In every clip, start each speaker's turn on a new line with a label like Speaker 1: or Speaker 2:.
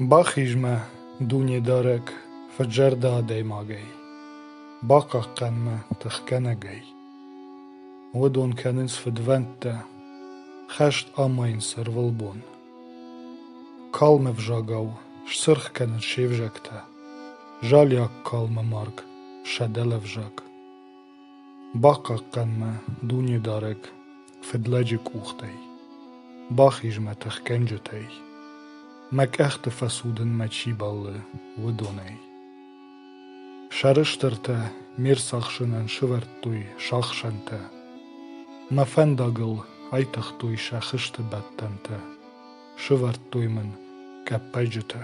Speaker 1: Бахиз мӕ, Дунедарӕг, фӕдзӕрдӕ адӕймагӕй, бахъахъхъӕн мӕ тыхгӕнӕгӕй. Уыдон кӕнынц фыдвӕндтӕ, хӕст амайынц ӕрвылбон. Калмы взагау сцырх кӕнын се взӕгтӕ, залиаг калмы марг сӕ дӕлӕвзаг. Бахъахъхъӕн мӕ Дунедарӕг фыдлӕджы къухтӕй, бахиз мӕ тыхгӕнджытӕй, мӕ къӕхты фӕцудын мӕ чи бӕллы, уыдонӕй. Сӕрыстыртӕ ме рцахсынӕн сывӕрдтой сахсӕнтӕ, мӕ фӕндагыл айтыгътой сӕ хызты бӕттӕнтӕ, сывӕрдтой мын къӕппӕджытӕ.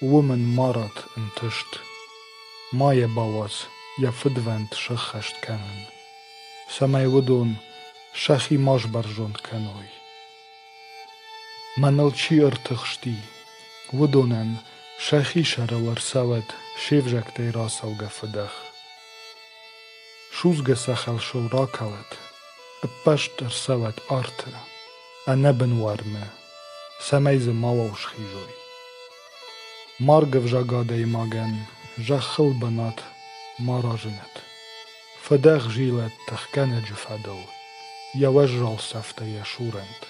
Speaker 1: Уым ын марат ӕнтыст ма йӕ бауадз йӕ фыдвӕнд сӕххӕст кӕнын, цӕмӕй уыдон сӕхи ма сбӕрзонд кӕной. Мӕныл чи ӕртыхсти, уыдонӕн сӕхи сӕрыл ӕрцӕуӕд се взӕгтӕй рацӕугӕ фыдӕх. Судзгӕ сахалсыл ракӕлӕд, ӕппӕст ӕрцӕуӕд арты. ӕнӕбынуармӕ, цӕмӕй дзы мауал схизой. Марг ӕвзаг адӕймагӕн зӕххыл бынат ма разынӕд. Фыдӕх зилӕд тыхгӕнӕджы фӕдыл, йӕ уӕззау цӕфтӕ йӕ сурӕнт.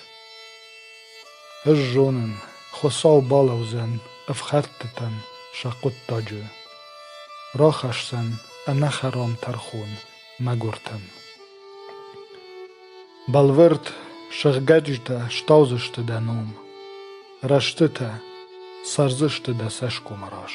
Speaker 1: Ӕз зонын, Хуыцау балӕудзӕн ӕфхӕрдтытӕн сӕ хъуыддаджы. Рахӕсдзӕн ӕнӕхӕрам тӕрхон Мӕгуыртӕн. Бӕлвырд сыгъгӕджытӕ стаудзысты дӕ ном, рӕстытӕ цӕрдзысты дӕ цӕсгомы раз.